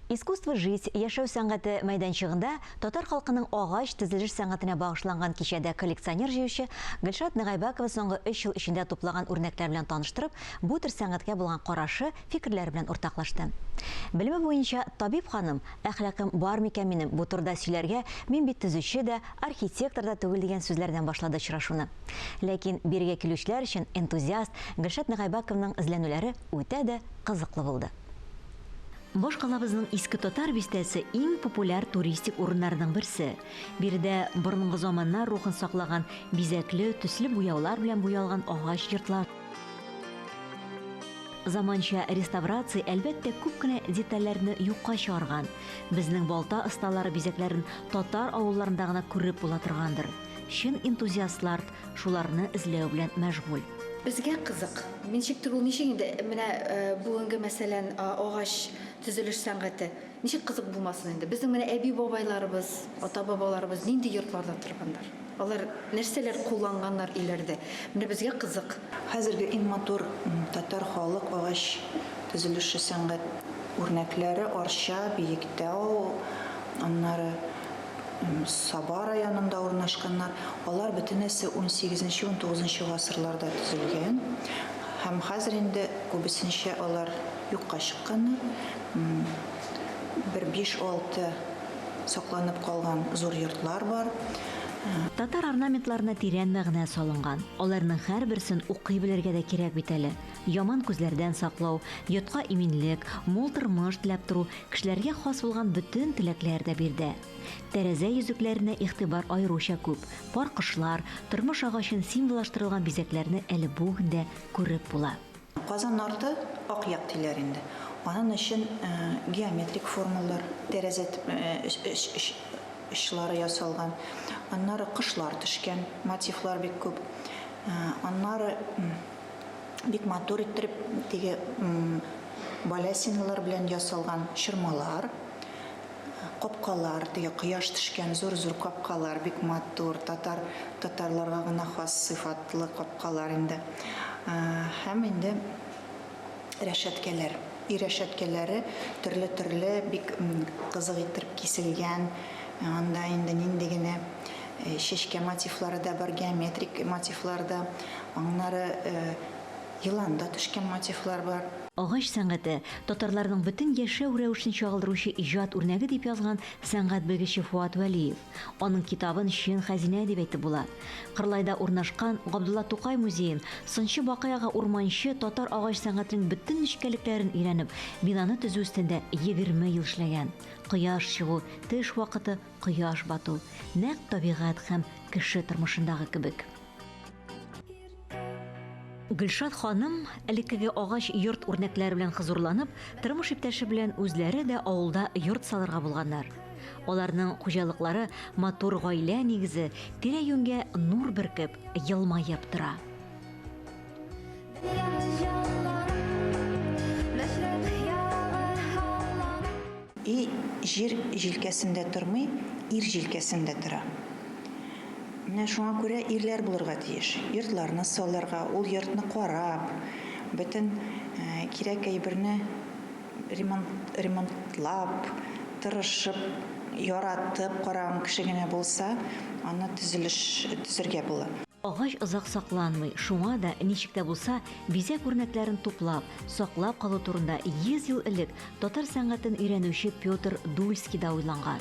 Искусство жить, яшәү сәнгате, мәйданчыгында татар халкының агач тезелеш сәнгатенә багышланган кичәдә коллекционер җыючы Гөлшат Нагайбакова соңгы өч ел эчендә туплаган үрнәкләр белән таныштырып, бу төр сәнгатькә булган карашы, фикерләре белән уртаклашты. Белеме буенча табиб ханым, Әхлакым бар микән минем бу турыда сөйләргә, мин бит төзүче дә, архитектор да түгел дигән сүзләрдән башлады очрашуны. Ләкин бирегә килүчеләр өчен энтузиаст Гөлшат Нагайбакованың эзләнүләре үтә дә кызыклы булды. Башкалабызның Иске Татар бистәсе иң популяр туристик урыннарның берсе. Биредә борынгы заманнар рухын саклаган бизәкле, төсле буяулар белән буялган агач йортлар, Заманча реставрация, әлбәттә, күп кенә детальләрне юкка чыгарган. Безнең балта осталары бизәкләрен татар авылларында гына күреп була торгандыр. Чын энтузиастлард Шуларны эзләү белән мәшгуль. Безгә кызык, ничектер ул, ничек инде менә бүгенге, мәсәлән, агач төзелеш сәнгате, ничек кызык булмасын инде? Безнең менә әби-бабайларыбыз, ата-бабаларыбыз нинди йортларда торганнар? Алар нәрсәләр кулланганнар өйләрдә? Менә безгә кызык. Хәзерге иң матур татар халык агач төзелеше сәнгать үрнәкләре, Арча, Биектау, аннары. Саба районында урнашканнар. Алар бөтенесе 18-19 гасырларда төзелгән һәм хәзер инде күбесенчә алар юкка чыкканнар. Бер 5-6 сакланып калган зур йортлар бар. Татар орнаментларына тирән мәгънә салынган. Аларның һәрберсен укый белергә дә кирәк бит әле. Яман күзләрдән саклау, йортка иминлек, мул тормыш теләп тору, кешеләргә хас булган бөтен теләкләр дә бирдә. Тәрәзә йөзекләренә игътибар аеруча күп, пар кошлар, тормыш агачын символаштырылган бизәкләрне әле бүген дә күреп була. Казан арты, ак як диләр инде. Анын өчен геометрик формалар, тәрәзә очлары ясалган. Аннары кошлар төшкән, мотивлар бик күп. Аннары. бик матур иттереп теге балясиналар белән ясалган чормалар, капкалар, теге кояш төшкән зур-зур капкалар, бик матур, татар татарларга гына хас сыйфатлы капкалар инде. Һәм инде Рәшәткәләр. Өй рәшәткәләре төрле-төрле, бик кызык иттереп киселгән. Анда инде нинди генә чәчкә мотивлары да бар, геометрик мотивлар да. Аннары елан да төшкән мотивлар бар. Агач сәнгате, татарларның бөтен яшәү рәвешен чагылдыручы иҗат үрнәге, дип язган сәнгать белгече Фуат Вәлиев. Аның китабын чын хәзинә дип әйтеп була. Кырлайда урнашкан Габдулла Тукай музеен сынчы Бакый-ага Урманче татар агач сәнгатенең бөтен нечкәлекләрен өйрәнеп, бинаны төзү өстендә егерме ел эшләгән. Кояш чыгу, төш вакыты, кояш бату, нәкъ табигать һәм кеше тормышындагы кебек. Гөлшат ханым, элеккеге агач йорт үрнәкләре белән хозурланып, тормыш иптәше белән үзләре дә авылда йорт салырга булганнар. Аларның хуҗалыклары матур гаилә нигезе, тирә-юньгә нур бөркеп, елмаеп тора. И җир җилкәсендә тормый, ир җилкәсендә тора. Менә шуңа күрә ирләр булырга тиеш. Йортларны салырга, ул йортны карап, бөтен кирәк әйберне ремонт, ремонтлап, тырышып, яратып караган кеше генә булса, аны төзелеш төзергә була. Агач озак сакланмый, шуңа да, ничек тә булса, бизәк үрнәкләрен туплап, саклап калу турында 100 ел элек татар сәнгатен өйрәнүче Петр Дульский да уйланган.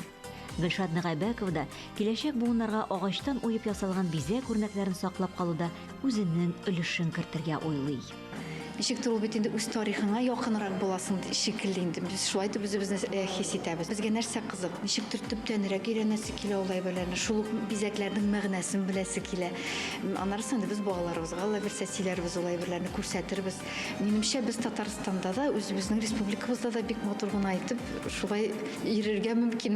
Гөлшат Нәгайбәкова да киләчәк буыннарга агачтан уеп ясалган бизәк үрнәкләрен саклап калуда үзенең өлешен кертергә уйлый. Ничектер ул бит инде үз тарихыңа якынрак буласың шикелле инде. Без шулай итеп үзебезне э, хис итәбез. Безгә нәрсә кызык? Ничектер төптәнрәк өйрәнәсе килә ул әйберләрне. Шул ук бизәкләрнең мәгънәсен беләсе килә. Аннарысы инде без балаларыбызга ла бирсә сөйләрбез ул әйберләрне күрсәтербез. Минемчә без Татарстанда да үзебезнең республикабызда да бик матур гына итеп шулай йөрергә мөмкин.